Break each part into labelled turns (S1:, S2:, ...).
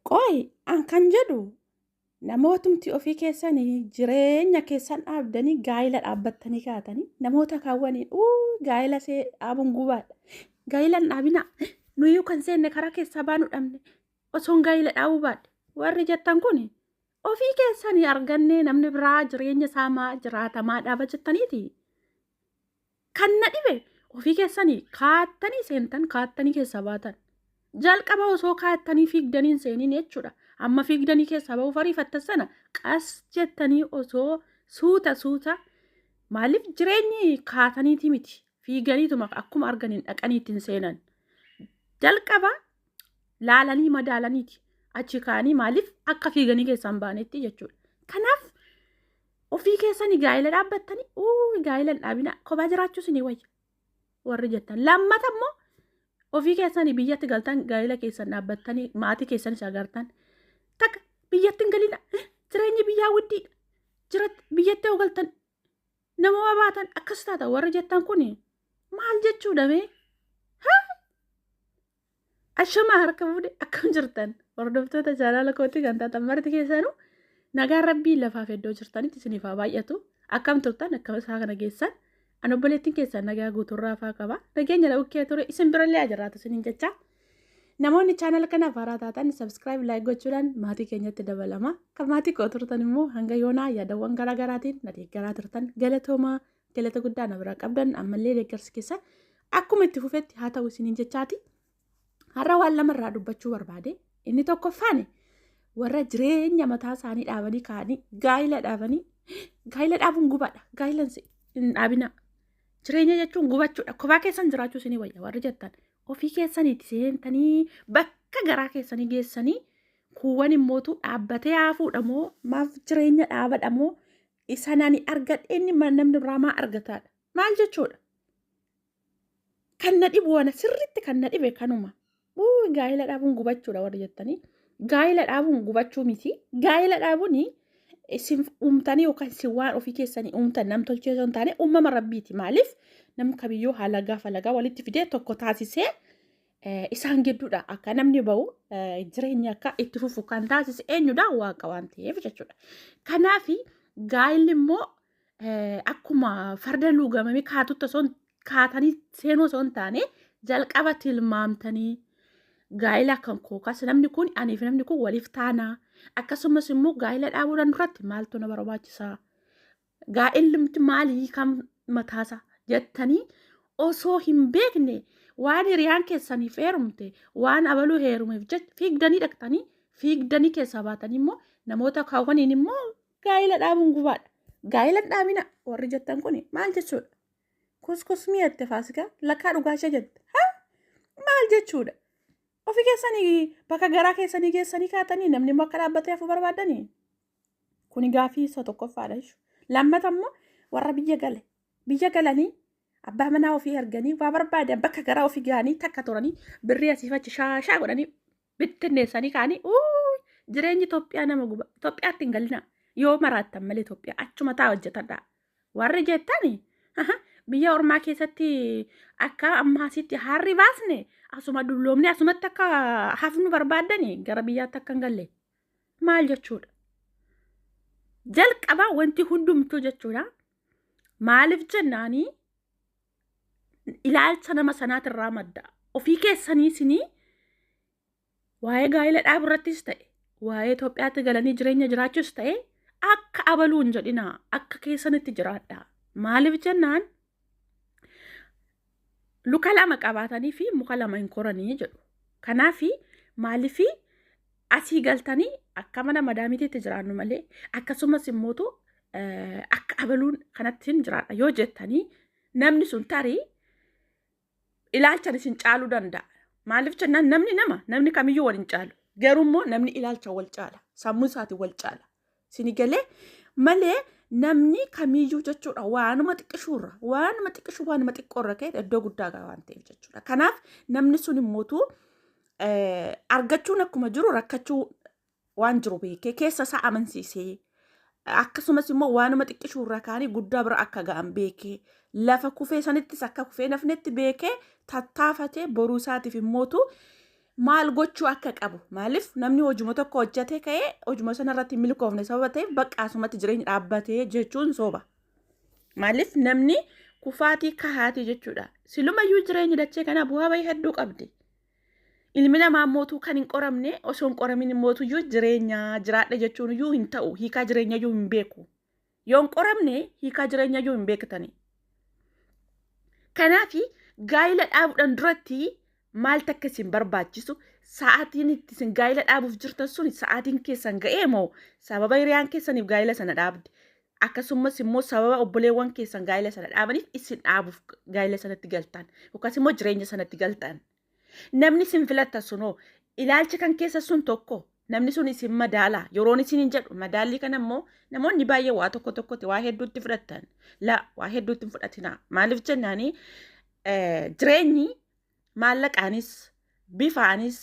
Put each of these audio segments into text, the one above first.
S1: Qoy an kan jedhu namootumti ofii keessanii jireenya keessan dhaabdanii gaa'ila dhaabbattanii kaatanii namoota kaawwaniin uu gaa'ila see dhaabuun gubaadha. Gaa'ila hin dhaabinaa nuyyuu kan seenne karaa keessaa baanu dhabne osoon gaa'ila dhaabuu baadhe warri jettan kun ofii keessanii argannee namni biraa jireenya isaa maa jiraata maa dhaaba jettaniiti. Kan na dhibe ofii keessanii kaattanii seentan kaattanii keessaa baatan. Jalqaba osoo kaattanii fiigdanii hin seeniin jechuudha. Amma fiigdanii keessaa bahuuf ariifattan sana qas jettanii osoo suuta suuta maaliif jireenyi kaataniitii miti fiiganiituma akkuma arganiin dhaqanii ittiin seenan. Jalqaba laalanii madaalaniiti achi kaanii maaliif akka fiiganii keessaa hin baanetti jechuudha. Kanaaf Ofii keessanii gaa'ila dhaabbattanii uu gaa'ila hin dhaabinaa kophaa jiraachuu isinii wayya warri jettan. Lammata immoo ofii keessanii biyyatti galtan gaa'ila keessan dhaabbattanii maatii keessanis agartan. Takka biyyatti hin galina jireenyi biyyaa widdiidha. Jirat biyyatti yoo galtan nama baatan akkas taata warri jettan kun maal jechuudha mee? Ashamaa harka fuudhe akkam jirtan hordoftoota chaanaala kootii kan taatan marti keessanuu nagaan rabbii lafaaf iddoo jirtanitti isiniif haa baay'atu akkam turtan akkam isaa kana geessan an obboleettiin keessan nagaa guuturraa faa qaba nageenya lakkee ture isin birallee ajirraatu isiniin jecha namoonni chaanaala kanaaf haaraa taatan sabskiraayib laayik gochuudhaan maatii keenyatti dabalama kan maatii koo turtan immoo hanga yoonaa yaadawwan garaagaraatiin na deeggaraa turtan galatoomaa Galata guddaa na biraa qabdan ammallee deeggarsi keessan akkuma itti fufetti haa ta'u isiniin jechaati. Har'a waan lama irraa dubbachuu barbaade. Inni tokkoffaani warra jireenya mataa isaanii dhaabanii kaa'anii gaa'ila dhaabanii gaa'ila dhaabuun gubaadha. Gaa'ila hin dhaabinaa. Jireenya jechuun gubachuudha. Kophaa keessan jiraachuu isinii wayya warri jettan. Ofii keessaniiti seentanii bakka garaa keessanii geessanii kuuwwan immootu dhaabbatee haafuudha moo maaf jireenya dhaabadha moo Isaan ani argadhe inni ma- namni biraa maa argataadha. Maal jechuudha? Kan na dhibu ana sirriitti kan na dhibe kanuma. Wuu gaa'ila dhaabuun gubachuudha warri jettanii. Gaa'ila dhaabuun gubachuu miti. Gaa'ila dhaabuun isin uumtanii yookaan isin waan ofii keessanii uumtan nam tolchee osoo hin taane uumama rabbiiti. Maaliif? Nam kamiyyuu haala gaafa lagaa walitti fidee tokko taasisee isaan gidduudha akka namni ba'u jireenya akka itti fufu kan taasise eenyudha waaqa waan ta'eef jechuudha. Kanaaf gaa'illi immoo akkuma farda luugamame kaatutti osoo kaatanii seenuu osoo hin taane jalqaba tilmaamtanii gaa'ila kan kookaas namni kun aniif namni kun waliif taanaa akkasumas immoo gaa'ila dhaabuudhaan duratti maaltu na barbaachisaa gaa'illimti maalii kan mataasaa jettanii osoo hin beekne waan hiriyaan keessaniif heerumte waan abaluu heerumeef jecha fiigdanii dhaqxanii fiigdanii keessaa baatanii immoo namoota kaawwaniin immoo gaa'ila dhaabuun gubaadha. Gaa'ila dhaabina warri jettan kun maal jechuudha? Kuskusmii jette faasikaa lakkaa dhugaa ishee jette. Ha? Maal jechuudha? Ofii keessanii bakka garaa keessanii geessanii kaatanii namni immoo akka dhaabbatee hafu barbaadanii? Kuni gaafii isa tokkoffaadha jechuudha. Lammata immoo warra biyya gale. Biyya galanii abbaa manaa ofii arganii waa barbaadan bakka garaa ofii gahanii takka turanii birrii asii fachi shaashaa godhanii bittinneessanii kaanii uuu jireenyi Itoophiyaa nama guba. Itoophiyaatti hin galinaa. Yoo maraattan malee Itoophiyaa achuma taa hojjetadhaa. Warri jettani aha, biyya ormaa keessatti akka ammaa asitti harri baasne asuma dulloomne asumatti akka hafnu barbaaddani gara biyyaatti akka hin galle. maal jechuudha? Jalqaba wanti hundumtuu jechuudha. Maaliif jennaanii ilaalcha nama sanaatirraa madda. Ofii keessanii isinii waa'ee gaa'ela dhaabu irrattis ta'e waa'ee Itoophiyaatti galanii jireenya jiraachuus ta'e akka abaluu hin jedhinaa akka keessanitti jiraadha. Maaliif jennaan luka lama qabaatanii fi muka lama hin koranii jedhu. Kanaaf maaliif asii galtanii akka mana madaamitiitti jiraannu malee akkasumas immootu akka abaluun kanatti hin jiraadha yoo jettanii namni sun tarii ilaalchan isin caaluu danda'a. Maaliif jennaan namni nama namni kamiyyuu wal hin caalu. Garuu immoo namni ilaalcha wal caala. Sammuu isaatiin wal caala. Sini galee malee namni kamiyyuu jechuudha waanuma xiqqishuurra waanuma xiqqishuu waanuma xiqqoorra ka'e iddoo guddaa ga'a waan ta'eef jechuudha. Kanaaf namni sun immootu argachuun akkuma jiru rakkachuu waan jiru beekee keessa isaa amansiisee akkasumas immoo waanuma xiqqishuurra kaanii guddaa bira akka ga'an beekee lafa kufee sanittis akka kufee nafnetti beekee tattaafatee boruu isaatiif immootu maal gochuu akka qabu maaliif namni hojuma tokko hojjatee ka'ee hojuma sana irratti hin milkoofne sababa ta'eef bakka asumatti jireenya dhaabbatee jechuun sooba. Maaliif namni kufaatii kahaatii jechuudha. Silumayyuu jireenyi dachee kanaa bu'aa bahii hedduu qabdi. Ilmi namaa mootuu kan hin qoramne osoo hin qoramin mootuyyuu jireenya jiraadha jechuun iyyuu hin ta'u hiikaa jireenya iyyuu hin beeku. Yoo hin qoramne hiikaa jireenya iyyuu hin beektani. Kanaaf gaa'ila dhaabuudhaan duratti maaltu akka isin barbaachisu sa'aatiin itti isin gaa'ila dhaabuuf jirtan sun sa'aatiin keessan ga'ee moo sababa hiriyaan keessaniif gaa'ila sana dhaabde akkasumas immoo sababa obboleewwan keessan gaa'ila sana dhaabaniif isin dhaabuuf gaa'ila sanatti galtan yookaas immoo jireenya sanatti galtan Namni isin filattan sun hoo ilaalcha kan keessa sun tokko namni sun isin madaala yeroon isin hin jedhu madaallii kana immoo namoonni baay'ee waa tokko tokkotti waa hedduutti fudhattan la waa hedduutti hin fudhatinaa maaliif jennaanii jireenyi maallaqaanis bifaanis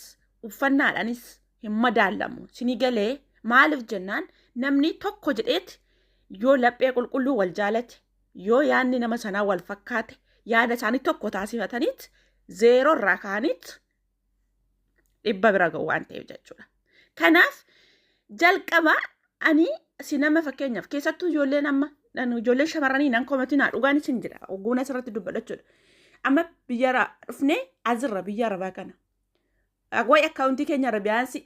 S1: uffannaadhaanis hin madaallamu sinii galee maaliif jennaan namni tokko jedheeti yoo laphee qulqulluu wal jaalate yoo yaadni nama sanaa wal fakkaate yaada isaanii tokko taasifataniit zeeroo irraa ka'aniit dhibba bira ga'u waan ta'eef jechuudha. Kanaaf jalqaba ani si nama fakkeenyaaf keessattuu ijoolleen amma nan- ijoolleen shamarranii nan komatinaa dhugaan isin jira ogguun asirratti dubbadhachuudha. Amma biyyara dhufnee azirra biyya arabaa kana. Wayi akkaawuntii keenya arabiyaansii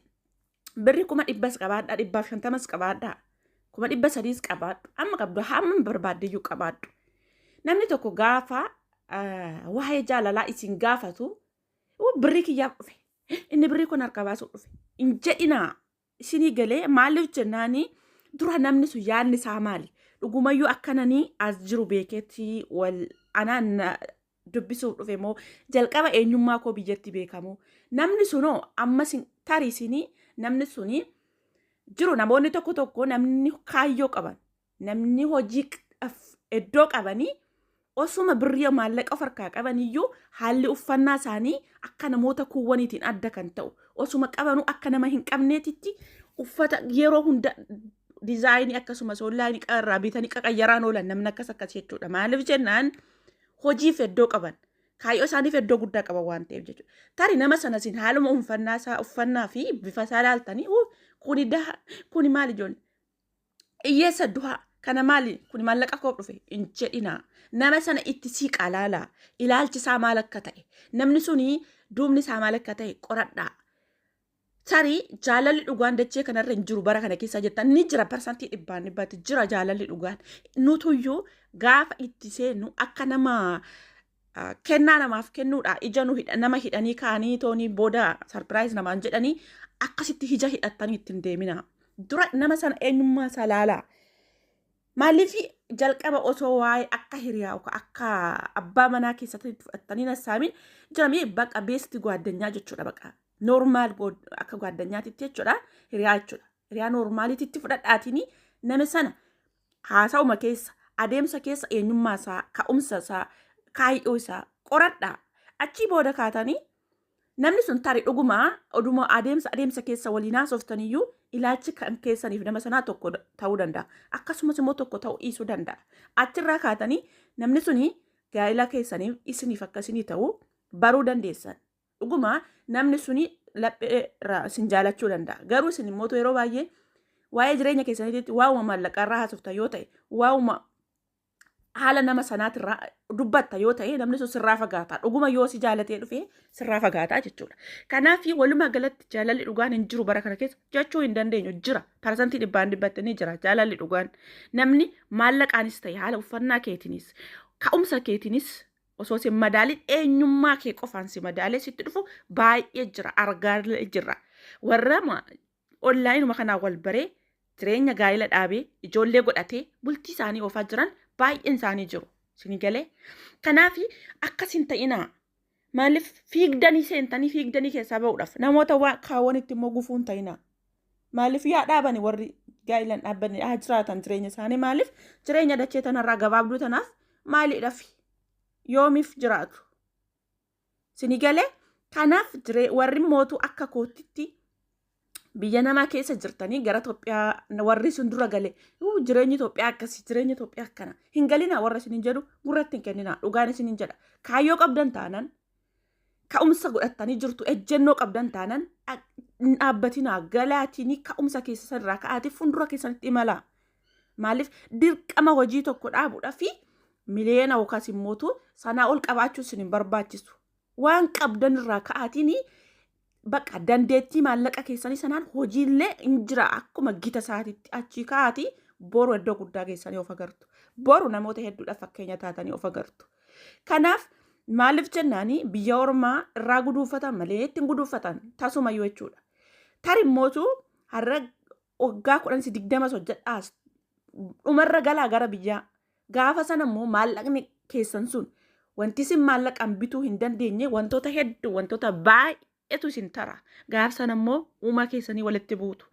S1: Birri kuma dhibbas qabaadhaa dhibbaaf shantamas qabaadhaa kuma dhibba sadiis qabaadhu amma qabdu hamma barbaaddeyyuu qabaadhu. Namni tokko gaafa ah, waa'ee jaalalaa isin gaafatu "Uu, birrii kiyyaaf dhufe inni birrii kun harka baasuuf dhufe hin jedhinaa isinii galee maaliif jennaanii dura namni sun yaadni isaa maali dhugumayyuu akkananii as jiru beekeetti wal anaa na- dubbisuuf dhufe moo jalqaba eenyummaa koo biyyatti beekamu namni sunoo amma sin tarii sinii namni suni jiru namoonni tokko tokko namni kaayyoo qaban namni hojii qaf- iddoo qabanii osuma birrii maallaqa of harkaa qaban iyyuu haalli uffannaa isaanii akka namoota kuuwwaniitiin adda kan ta'u osuma qabanuu akka nama hin qabneetitti uffata yeroo hunda dizaayinii akkasumas onlaayinii irraa bitanii qaqayyaraan oolan namni akkas akkas jechuudha maaliif jennaan hojiif iddoo qaban kaayyoo isaaniif iddoo guddaa qaban waan ta'eef jechuudha. Tari nama sana isin haaluma uffannaa isaa uffannaa fi bifa isaa ilaaltanii "Uu, kuni daha kuni maali ijoollee hiyyeessa duhaa kana maali kuni maallaqa koof dhufe hin jedhinaa. Nama sana itti siiqaa laalaa ilaalchi isaa maal akka ta'e namni suni duubni isaa maal akka ta'e qoradhaa. Tarii jaalalli dhugaan dachee kanarra hin jiru bara kana keessa jettan ni jira parsantii dhibbaan dhibbaatti jira jaalalli dhugaan. Nutuyyuu gaafa itti seennu akka nama ah, kennaa namaaf kennuudha ija nu hidha- nama hidhanii kaanii toonii booda sarpiraayiz namaan jedhanii akkasitti ija hidhattanii ittiin deemina. Dura nama sana eenyummaa isaa laalaa. Maaliif jalqaba osoo waa'ee akka hiriyaa yookaan akka abbaa manaa keessatti fudhattanii nassaamin jiramee baqa beesti gwaaddanyaa jechuudha baqa. Normaal akka gaaddanyaatitti jechuudha. Hiriyaa jechuudha. Hiriyaa normaaliititti fudhadhaatiin nama sana haasa'uma keessa adeemsa keessa eenyummaa isaa ka'umsa isaa kaayyoo isaa qoradhaa. Achii booda kaatanii namni sun tarii dhuguma oduma adeemsa adeemsa keessa waliin haasoftaniyyuu ilaalchi kan keessaniif nama sanaa tokko ta'uu danda'a. Akkasumas immoo tokko ta'uu dhiisuu danda'a. Achirraa kaatanii namni suni gaa'ila keessaniif isiniif akka isinii ta'u baruu dandeessan. Dhuguma namni suni laphee irraa isin jaalachuu danda'a. Garuu isin immoo yeroo baay'ee waa'ee jireenya keessaniitti waa'uma maallaqaa irraa haasofta yoo ta'e, waa'uma haala nama sanaatirraa dubbatta yoo ta'e namni sun sirraa fagaata. Dhuguma yoo si jaalatee dhufe sirraa fagaata jechuudha. Kanaaf walumaa galatti jaalalli dhugaan hin jiru bara kana keessa jechuu hin dandeenyu jira. Parsantii dhibbaan dhibbatti ni jira jaalalli dhugaan. Namni maallaqaanis ta'e haala uffannaa keetiinis ka'umsa keetiinis osoo sin madaalin eenyummaa kee qofaan si madaalee sitti dhufu baay'ee jira argaa jirra warra onlaayinuma kanaa wal baree jireenya gaa'ila dhaabee ijoollee godhatee bultii isaanii oofaa jiran baay'een isaanii jiru sini galee kanaaf akkas hin ta'inaa maaliif fiigdanii seentanii fiigdanii keessaa ba'uudhaaf namoota waan kaawwanitti immoo gufuu hin ta'inaa Maaliif yaa dhaabani warri gaa'ilan dhaabbanni haa jiraatan jireenya isaanii maaliif jireenya dachee tanarraa gabaabduu tanaaf maaliidhaaf yoomiif jiraatu. Sini galee kanaaf warri mootuu akka kootitti biyya namaa keessa jirtanii gara Itoophiyaa warri sun dura gale jireenyi Itoophiyaa akkasii jireenyi Itoophiyaa akkana hin galinaa warra isin hin jedhu gurratti hin kenninaa dhugaan isin hin jedha kaayyoo qabdan taanan ka'umsa godhattanii jirtu ejjennoo qabdan taanan dhaabbatinaa galaatinii ka'umsa keessan irraa ka'aati fuuldura keessanitti imalaa. Maaliif dirqama hojii tokko dhaabuudha fi miliyoona yookaas immootu sanaa ol qabaachuun sin hin barbaachisu. Waan qabdan irraa ka'aatiin Bakka dandeettii maallaqa keessanii sanaan hojiillee hin jira akkuma gita isaatitti achii ka'aati boru iddoo guddaa geessanii of agartu. Boru namoota hedduudhaaf fakkeenya taatanii of agartu. Kanaaf maaliif jennaani biyya ormaa irraa guduunfatan malee ittiin guduunfatan tasumayyuu jechuudha. Tarimmootu har'a waggaa kudhan si digdamas hojjedhaas dhumarra galaa gara biyyaa gaafa sana immoo maallaqni keessan sun wanti isin maallaqaan bituu hin dandeenye wantoota hedduu wantoota baay'eetu isin tara gaafa sana immoo uumaa keessanii walitti buutu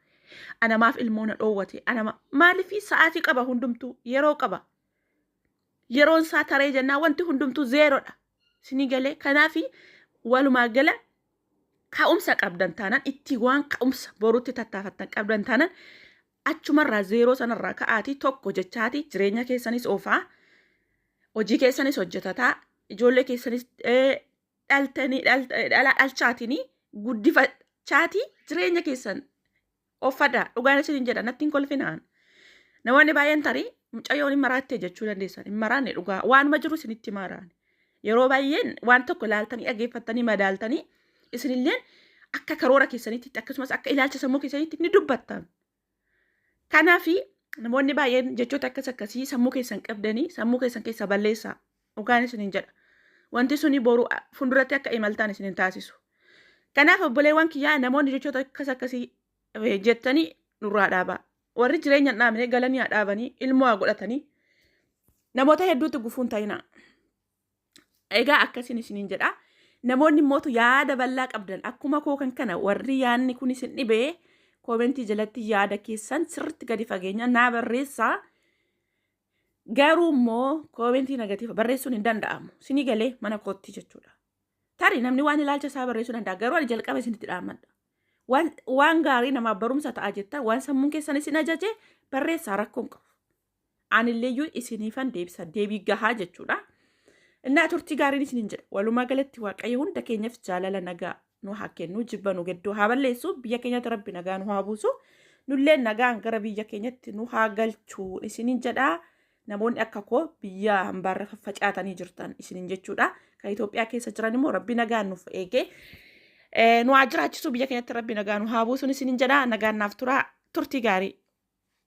S1: anamaaf ilmoo na dhoowwate anama maaliif sa'aatii qaba hundumtuu yeroo qaba yeroon isaa taree jennaa wanti hundumtuu zeerodha isinii galee kanaafi walumaa gala ka'umsa qabdan taanaan itti waan ka'umsa borutti tattaafattan qabdan taanaan achumarraa zeeroo sanarraa ka'aatii tokko jechaatii jireenya keessanis oofaa hojii keessanis hojjetataa ijoollee keessanis eh, dhaltanii dhalt- eh, dhala dhalchaatinii guddifachaatii jireenya keessan Qoffadha. Dhugaan isinin jedha natti hin kolfinaan. Namoonni baay'een tarii mucayyoon hin maraattee jechuu dandeessan. Hin maraanne dhugaa waanuma jiru isinitti maaraan. Yeroo baay'een waan tokko ilaaltanii dhaggeeffattanii madaaltanii isinilleen akka karoora keessaniitti akkasumas akka ilaalcha sammuu keessaniitti ni dubbattan. Kanaaf namoonni baay'een jechoota akkas akkasii sammuu keessan qabdanii sammuu keessan keessaa balleessaa. Dhugaan isiniin jedha. Wanti suni boru fuulduratti akka imaltaan isin hin taasisu. Kanaaf obboleewwan kiyyaa namoonni jechoota akkas akkasii eh, jettanii nurraa dhaabaa. Warri jireenya hin dhaabne galanii haa dhaabanii ilmoo haa godhatanii namoota hedduutti gufuun ta'inaa. Egaa akkasiin isiniin jedha. Namoonni mootu yaada bal'aa qabdan akkuma koo kan kana warri yaadni kun isin dhibee koomentii jalatti yaada keessan sirriitti gadi fageenyaan naa barreessaa. Garuu immoo koomentii negatiiva barreessuun hin danda'amu. Sinii galee mana kootti jechuudha. Tari namni waan ilaalcha isaa barreessuu danda'a. Garuu ani jalqaba isinitti dhaammadha. Waan, waan gaarii namaaf barumsa ta'a jettan waan sammuun keessan isin ajaje barreessaa rakkoon qabu. Anilleeyyuu isiniifan deebisa deebii gahaa jechuudha. Innaa turtii gaariin isinin jedha. Walumaa galatti Waaqayyo hunda keenyaf jaalala nagaa nu haa kennu jibba nu gidduu haa balleessu biyya keenyatti rabbi nagaa nu haa buusu nullee nagaan gara biyya keenyatti nu haa galchu isinin jedha namoonni akka koo biyya hambaarra faffacaatanii jirtan isinin jechuudha kan Itoophiyaa keessa jiran immoo rabbi nagaan nuuf eegee nu haa jiraachisu biyya keenyatti rabbi nagaa nu haa buusu isinin jedha nagaan naaf tura turtii gaarii.